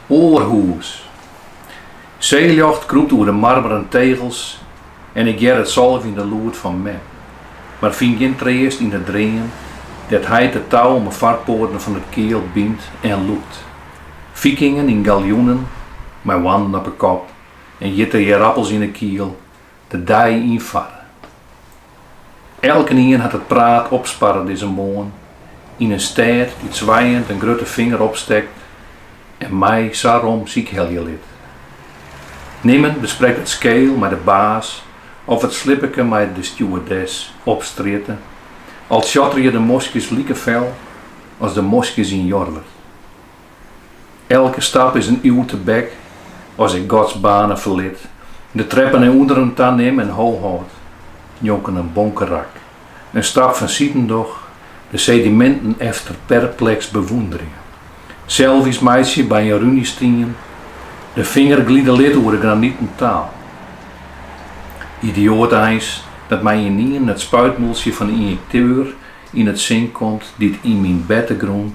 Aarhus. Seeljocht krûpt oer de marmeren tegels en ik hear it sâlt yn it lûd fan me, mar fyn gjin treast yn 'e dream dêr't heit it tou om 'e foarpoaten fan it keal bynt en lûkt. Fikingen yn galjoenen, mei hoarnen op 'e kop en hjitte ierappels yn 'e kiel, de dei yn farre. Elkenien hat it praat opsparre dizze moarn yn in stêd dy't swijend in grutte finger opstekt en my sa rom sykhelje lit. Nimmen besprekt it skeel mei de baas of it slippeke mei de stewardess op strjitte, al tsjotterje de moskjes like fel as de moskjes yn Jorwert. Elke stap is in iuw tebek, as ik Godsbanen ferlit, de treppen nei ûnderen ta nim en ho hâld, njonken in bonkerak, in stap fansiden doch, de sediminten efter perpleks bewûnderje, selfies meitsje by in runestien, de finger glide lit oer de graniten taal. Idioat eins dat my ynienen it spuitmûltsje fan de ynjekteur yn it sin komt dy't yn myn bertegrûn